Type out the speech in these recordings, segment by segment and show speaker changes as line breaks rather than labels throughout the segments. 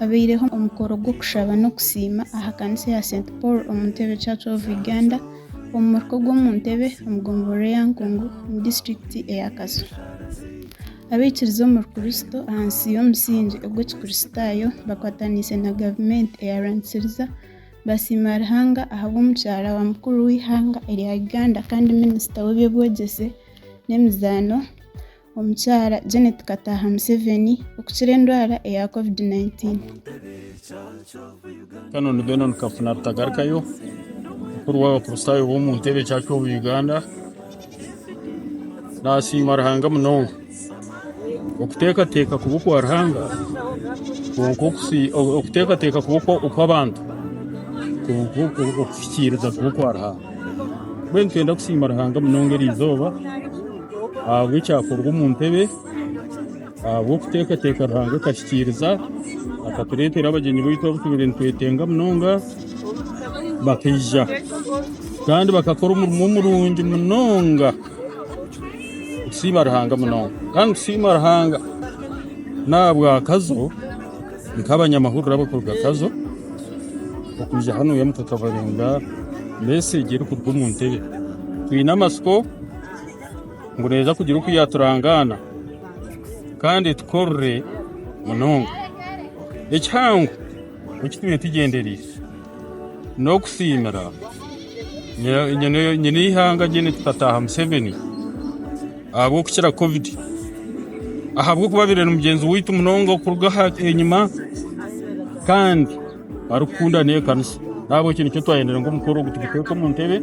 Habaireho omukoro gw'okushaba n'okusiima aha kanisa eya St Paul omu Ntebe Church of Uganda omu muruka ogw'omu Ntebe omu gomborora eya Nkungu omu disiturikiti eya Kazo. Abaikiriza omuri Kurisito ahansi y'omusingye ogw'ekikurisitaayo bakwataniise na gavumenti eyarwanisiriza basiima Ruhanga ahabw'omukyara wa mukuru w'eihanga erya Uganda kandi minisita w'eby'obwegyese n'emizaano Omukyara Janet Kataha Museveni okukira endwara eya covid 19.
Canon Benon Kafuna Rutagarukayo, Mukuru w'Abakristaayo b'omu Ntebe Church of Uganda, Naasiima Ruhanga munonga. Okuteekateeka kubi okwa Ruhanga, kwonka okusi- okuteekateeka kubi okwa- okw'abantu, kwonka oku- okuhikiiriza kubi okwa Ruhanga. Mbwenu nitwenda kusiima Ruhanga munonga eri izooba ahabw'ekyakorwa omu ntebe, ahabw'okuteekateeka Ruhanga akahikiiriza akatureetera abagyenyi baitu abu tubaire nitwetenga munonga bakaija kandi bakakora omurimo murungi munonga. Nitusiima Ruhanga munonga kandi nitusiima Ruhanga n'ahabwa Kazo. Nk'abanyamahurire abarikuruga Kazo okwija hanu Oyamu tukabarinda meseegi erikuruga omu ntebe. Twine amatsiko ngu neija kugira oku yaaturangaana kandi etukorere munonga. Ekihango eki twine tugyendereire. N'okusiimira nyine ihanga Gen Kitataha Museveni ahabw'okukira covid ahabw'okuba abaire ari mugyenzi waitu munonga okuruga aha enyima kandi arikukunda n'ekanisa nahabwe ekyo nikyo twayendere ngu omukoro ogu tuguteeke omu ntebe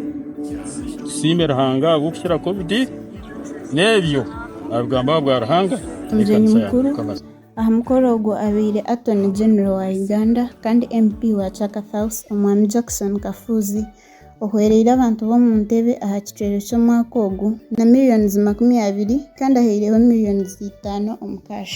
tusiime Ruhanga ahabw'okukira covid n'ebyo abigambo aha bwa Ruhanga n'ekanisa ya
Mukama. Aha mukoro ogwo abaire Attorney General wa Uganda kandi MP wa Chaka South, Omwami Jackson Kafuuzi, ohwereire abantu b'omu ntebe aha kicwero ky'omwaka ogu na millions makumi abiri kandi ahaireho millions itaano omu cash.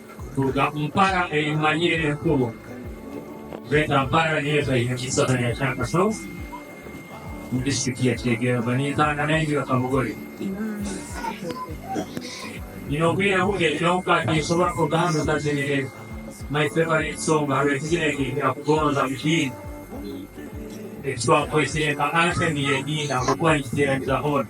Kuruga Mpara ei mumanyire enkuru, Greater Mpara niyo etaine kisasani kya Kashozi omu disiturikiti ya Kyegera nintanga naingi ya Kamugori. Nyine obwire buke kyonka tinsobora kuruga hanu ntazinire my favorite song haroho ekizina ekinkira kugonza mukiine ekitwakwesire nka anthem y'ediini ahabw'okuba nikiteeraniza hoona.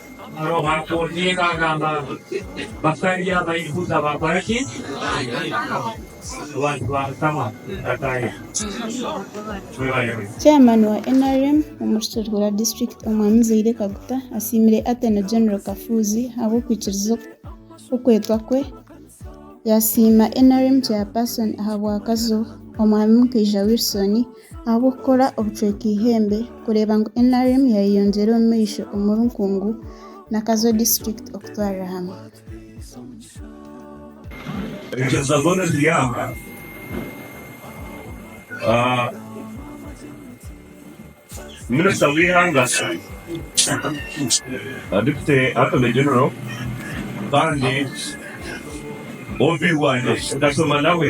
Roho atondeka agamba batari
Abayahuda bakora ki? Abantu ba Mukama bataayaho. Mwebale mutye. Chairman wa nrm omu Rukiiko rwa District Omwami Zaire Kaguta asiimire Attorney General Kafuuzi ahabw'okwikiriza okwetwa kwe, yasiima nrm Chairperson ahabw'akazo Omwami Mukaija Wilson Ahabw'okukora obucweka eihembe kureeba ngu nrm yaayeyongyera omu maisho omuri Nkungu na Kazo disiturikiti okutwarira hamwe.
Engyeza zoona ziri aha. Minisita w'eihanga, Deputy Attorney General kandi OB wangye, Gashoma nawe.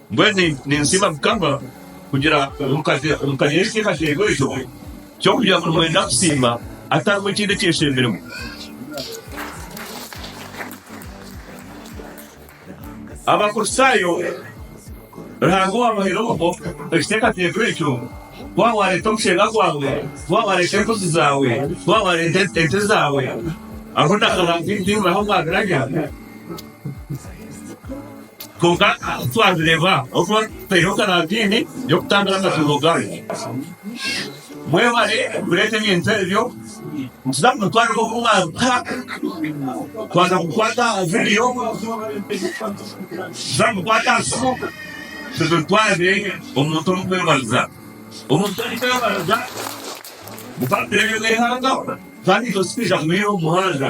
Mbwenu ninsiima Mukama kugira omukazi omukanyensya eihasheerwe eryo ky'okugira ngu nimwenda kusiima atarimu ekindi ekyeshembiremu. Abakristaayo Ruhanga owaabahaire obwo ekiteekateeko ekyo, ku waaba waareeta omushenga gwawe, ku waaba waareeta embuzi zaawe, ku waaba waareeta ente zaawe, aho naho naho omwabirabya. Kwonka twabireeba ahu tuba tutaireho karantiini y'okutangira amatsiko ganyu. Mwebare kureeta ebintu ebyo, nituza kubatwarira oku mwaruga. Twaza kukwata aha vidiyo, nituza kukwata aha simu, tuzitwarire omuntu orikwebariza. Omuntu orikwebariza, mukamureebera eihanga, kandi itwe titwija kumuyiha omu muhanda.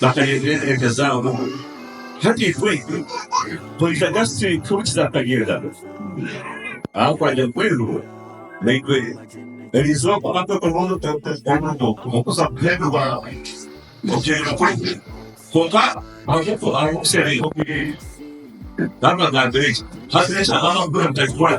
Baakareebire enteereka zaabo. Hati itwe twija kasitsi nk'oku kizaakagenda. Aho kwagya mbwenu, naitwe eriizooba kwamara kwekorera omurimo okuza kuheebwa okugyenda kwaitu. Kwonka ahabw'okushemeza oku biri, naabagambira eki, Haza eky'amazima mbwenu mutakikora.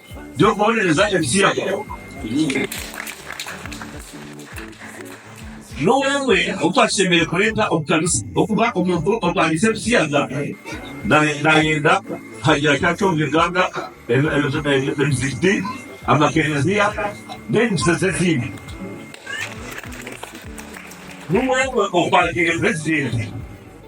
by'okubonereza emipiira yaabo. N'owe omwe ou twashemereire kureeta omu kanisa okuba omuntu orwanisa ebipiira naayenda kuhagira ki atyo omu iganga, emizigiti, amakereziya, n'enyegyesa z'ediini? N'owe omwe ou twateereza ekireere.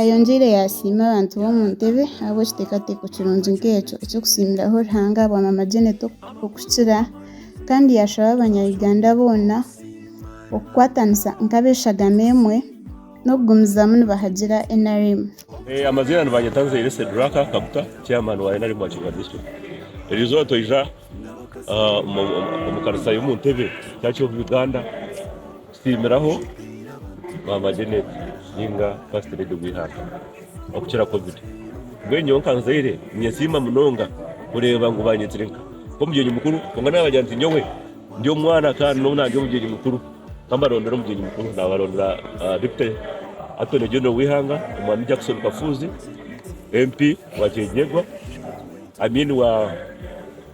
Ayongyeire yaasiima abantu b'omu ntebe ahabw'ekiteekateeko kirungi nk'ekyo eky'okusiimiraho Ruhanga bwa Mama Janet okukira kandi yaashaba Abanyayuganda boona okukwatanisa nk'ab'eshagama emwe n'okugumizamu nibahagira
nrm. Tusiimiraho Maama Janet ninga First Lady w'eihanga okukira Covid. Mbwenu nyowe nka muzaire ninyesiima munonga kureeba ngu baanyetire nka omugyenyi mukuru kwonka naabagira nti nyowe ndi omwana kandi n'obu naaryo omugyenyi mukuru kambarondera omugyenyi mukuru naabarondera Deputy Attorney General w'eihanga Omwami Jackson Kafuuzi, MP wa Kyegyegwa, I mean wa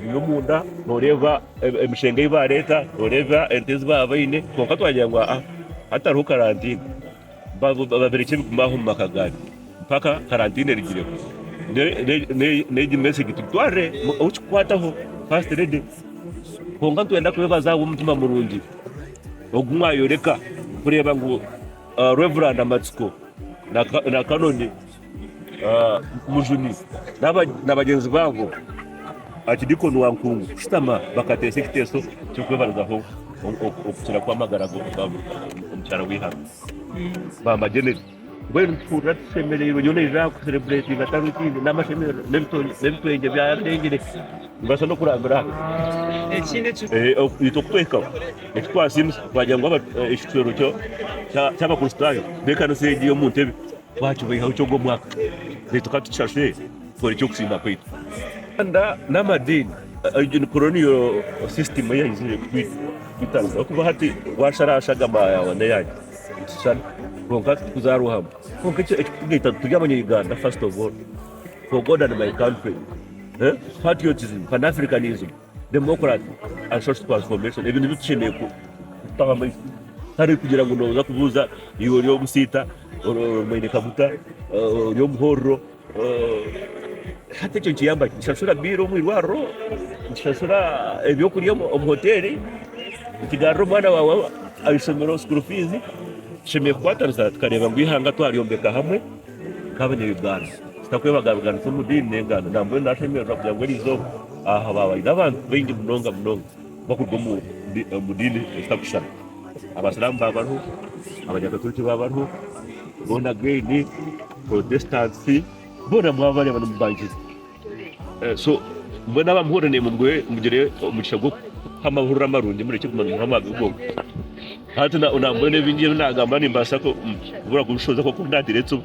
Biri omunda noreeba emishengo ei bareeta, noreeba ente ezi baba baine kwonka twagira ngu aa hatariho karantiini babirekye bigume aho omu maka gaabi mpaka karantiini erigireho. N'egi mesegi tugitwarire ow'okikukwataho, fasiti redi. Kwonka nitwenda kwebaza ahabw'omutima murungi ogu mwayoreka kureeba ngu Revurandi Amatsiko na Kanoni. Mujuni na bagyenzi baabo aha kidikoni wa nkungu kushutama bakateesa ekiteeso ky'okwebarizaho okukira kw'amagara g'omukyara w'eihanga. Maama Janet, Mbwenu nituhurira tushemereirwe, nyowe naija aha kusereburetinga tari ekindi n'amashemererwa n'ebitwengye byarengire. Nibaasa n'okurambira
aha itwe kutuhikaho
eki twasiimisa twagira ngu ekicwero ky'Abakristaayo b'ekanisa egi y'omu ntebe Twakibaihaho ki ogwo mwaka? Baitu ka tukishashure tukore eky'okusiima kwaitu. Uganda n'amadiini. Egi ni koloniyo sisitimu eyaizire kutwitana ahabw'okuba hati waasharaasha agama yaawe n'eyaangye nitushushana kwonka tikuzaarwa hamwe. Kwonka eki ekirikutugaita ngu turi Abanyayuganda first of all, for God and my country. Patriotism, Pan Africanism, Democracy and Social Transformation ebi nibyo tushemereire kutaho amaisho tari kugira ngu nooza kubuuza iwe ori omusiita Mwene kaguta ori omu ihoorero, hati ekyo nikiyamba ki? Nikishashura biiru omu irwariro, nikishashura ebyokurya omu hoteeri, nikigarurira omwana waawe aha ishomero sikuuru fiizi. Tushemereire kukwatanisa tukareeba ngu eihanga twaryombeka hamwe nk'Abanya-Uganda, tutakwebagabaganisa omu diini n'enganda. Nambwenu naashemererwa kugira ngu eriizooba aha haabaho abantu baingi munonga munonga. bakuruga omu omu diini ezitakushushana. Abasiramu baabariho, Abanyakatoriki baabariho, Born Again, Protestants, boona mwabareeba nimubanjuza. Eh, So, mbwenu abamuhurira naimwe mugwe mugire omugisha gw'okuha amahurire amarungi murekye kuguma nimuha amabi gonka. Hati na na mbwenu ebingi ebi naagamba nimbaasa ku- kubura kubishohoza kuba nk'oku naagira entsibo.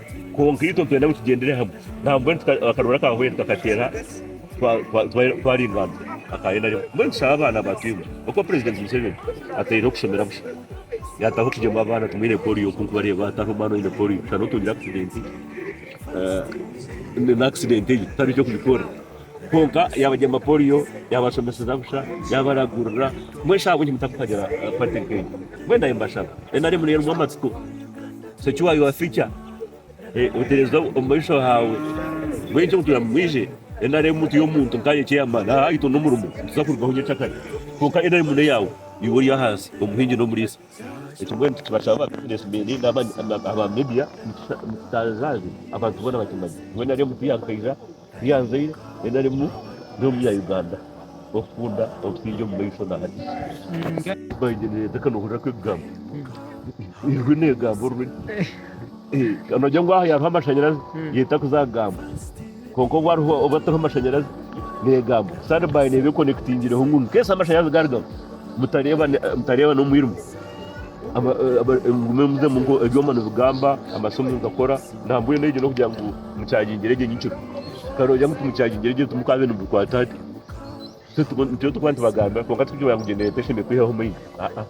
Kwonka itwe nitwenda ngu tugyendere hamwe nabo. Mbwenu akarwera ka Hwee tukakateera twaringaanisa aka nrm. Mbwenu tushabe abaana batwiine oku Purezidenti Museveni ataireho kushomera busha. Yaataho okugyema abaana ngu mwine poliyo ku nkubareeba hataho omwana oine poliyo shana otungire akisidenti nana akisidenti egyo tihariho eky'okugikoorera. Kwonka yaabagyema poliyo, yaabashomeseza busha, yaabaragurira. Mbwenu shi ahabw'enki mutakuhagira pati nk'egi? Mbwenu naanye mbashaba. Nrm niyo erimu amatsiko. So ki why was teacher eh otereza omumaisho haawe mbwenu ekyo ngu mwije nrm mutu y'omuntu nkaanye chairman aha aitwe n'omurimo nituza kurugaho nyekakare kwonka nrm n'eyaawe iwe ori ahansi omuhingi n'omuriisa ekyo mbwenu nitubashaba business men naba aba media mututaazaaze abantu boona bakimanye ngu nrm tiyankaija Byanzire narimu ndi omunya-Uganda okukunda obusingye omu maisho na hati. Mbanje nineteka nohurira ku ebigambo ijwi negamba orurimi kandi nogira ngu aha yariho amashanyarazi yeta kuza kugamba kwonka obu hariho obu atariho amashanyarazi negamba sand by neba ekonekitingireho ngu incase amashanyarazi garigaho mutarebana omwirima mugume muzemu ebyoma nibigamba amasimu nigakora na mbwenu egyo nokugira ngu. Mukyagingira egyo nyikiro karooja ngu timukyagingira egyo timukaabe nimubikwata hati nitwe turikuba nitubagambira kwonka tikugira ngu egyo neeta eshemereire kwihaho omuhini aa.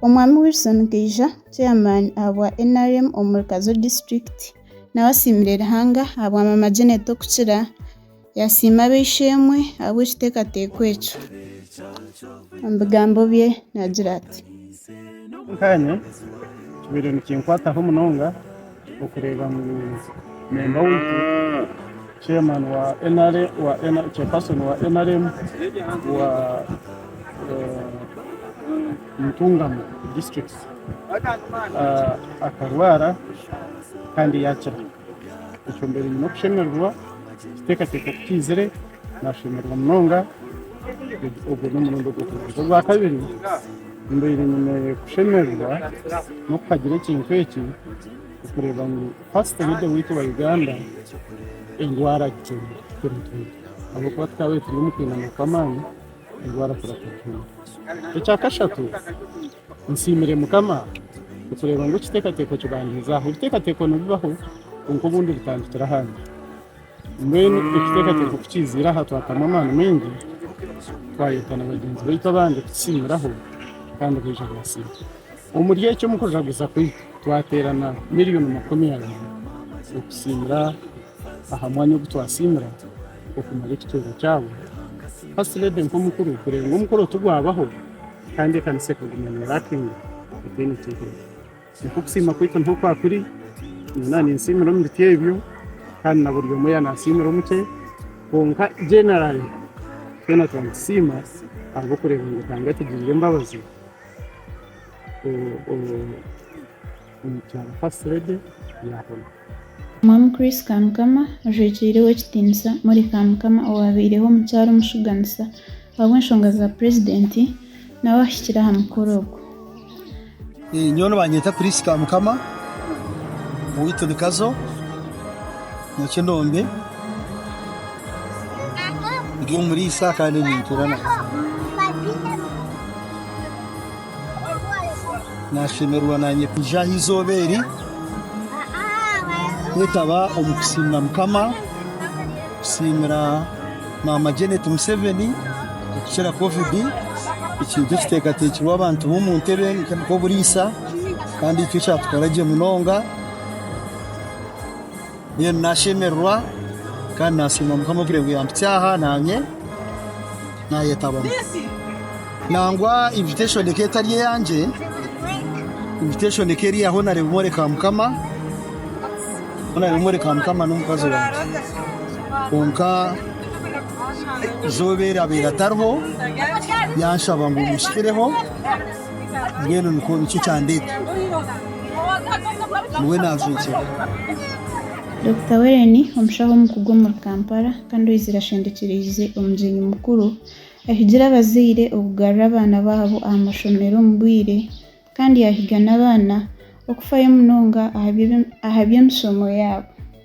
Omwami Wilson Kaija, Chairman ahabwa nrm omuri Kazo District, nawe asiimire Ruhanga ahabwa Maama Janet Okukira, Yasiima ab'eishe-emwe ahabw'ekiteekateeko ekyo. Omu bigambo bye naagira ati. Nkaanye,
kibaire nikinkwataho munonga okureeba ngu memba waitu, chairman wa chairperson wa nrm wa Ntungamo district akarwara kandi yaakira. Ekyo mbaire nyine okushemererwa kuteekateeka ku kiizire, naashemererwa munonga. Ogwo n'omurundi ogw'okubanza. Ogwakabiri, mbaire nyine kushemererwa n'okuhagira ekintu eki okureeba ngu paasita omu Idwe waitu owa Uganda endwara agicwera kuturinda. Ahabw'okuba tukaabaire turi omu kwinana kw'amaani, endwara kureetwa kuturinda. Ekya kashatu. Nsiimire Mukama okureeba ngu ekiteekateeko kibandiizaaho. Ebiteekateeko nibibaho kwonka obundi bitandikira ahandi. Mbwenu ekiteekateeko ku kiiziire aha twatamu amaani maingi, twayeta na bagyenzi baitu abandi kutusiimiraho kandi baija baasiima. Omuri ekyo omu kujaguza kwaitu, twateerana miriyoni makumi abiri okusiimira aha mwanya ogu twasiimira okumara ekitwero kyabo. First Lady nk'omukuru kureeba ngu omukoro tigwabaho. Kandi ekanisa ekaguma neeraatiina etaine eky'ekora. Nikwo okusiima kwaitu nikwo kwa kuri, nyowe ninsiimira omu biti ebyo, kandi na buri omwe yaanansiimira omu kye, kwonka generally twena tuba nitusiima ahabw'okureeba ngu Ruhanga atugirire embabazi omu kyanga First Lady yaahona. Mwami
Chris Kamukama, ojwekiire ow'ekitiinisa Molly Kamukama owaabaireho omukyara omushuganisa ahabw'enshonga za Purezidenti, nawe ahikire aha mukoro ogu.
Nyowe nibanyeta Chris Kamukama, owaitu ni Kazo, Nyakinombe, ndi omuriisa kandi nintuura nawe. Naashemererwa naanye kwija aha izooba eri kwetaba omu kusiimira Mukama, kusiimira Maama Janet Museveni okukira Kovidi, ekintu ekiteekateekirwe abantu b'omu ntebe nk'oburiisa kandi nikyo kyatukora gye munonga. Mbwenu naashemererwa kandi naasiima Mukama ohikire ngu yampitsya aha naanye naayetabamu. Nangwa invitation ekaba etari eyangye, invitation ekaba eri ya Honarebo Mworeka Mukama, Honarebo Mworeka Mukama n'omukazi wangye. Kwonka eizooba eryabaire atariho, yaanshaba ngu mushikireho. Mbwenu nikwo nikyo kyandeeta. Niwe naajwekyera.
Dokita Weren, omushaho omukugu omuri Kampala kandi oizire ashendekyereize omugyenyi mukuru, ahigire abazaire okugarura abaana baabo aha mashomero omu bwire kandi yahiga n'abaana okufayo munonga aha by'emishomo yaabo.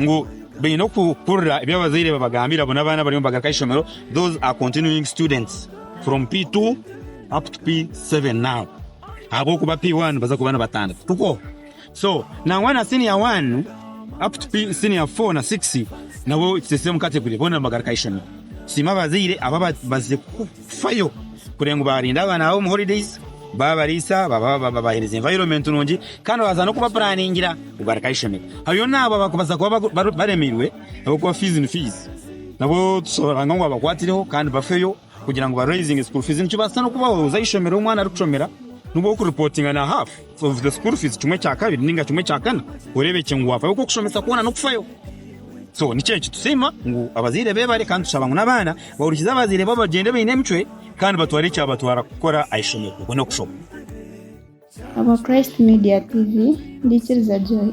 ngu baine okuhurira ebi abazaire babagambira bona abaana bariyo nibagaruka aha ishomero those are continuing students from P2 up to P7 now ahabw'okuba P1 baza kuba nibatandika tukwo so nangwa senior 1 up to P senior 4 na 6 nabo it's the same category bona nibagaruka aha ishomero siimwe abazaire aba baze Kufayo kureba ngu baarinda abaana baabo omu holidays, baabariisa, babaheereza environment nungi kandi babaasa n'okubapuraningira ngu barikaha eishomero. Hariyo n'abo abarikubaasa kuba baremeirwe ahabw'okuba fees ni fees, nabo tushaba ngu babakwatireho kandi bafeyo kugira ngu ba raisinge school fees. Nikibaasisa n'okubaho oza aha ishomero ahu omwana arikushomera nibwo orikuripotinga na half. Obuze school fees kimwe kya kabiri ninga kimwe kya kana orebekye ngu wafayo oku okushomesa kwona nokufayo. So nikyo eki tusiima ngu abazaire bebare kandi tushaba ngu nabaana bahurikize abazaire babo bagyende baine emicwe kandi batware ekyabatwara kukora ahishomero okwo nokushoma.
Habwa Christ Media TV, ndikiriza Joy.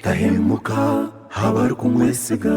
Tahemuka aha barikumwesiga.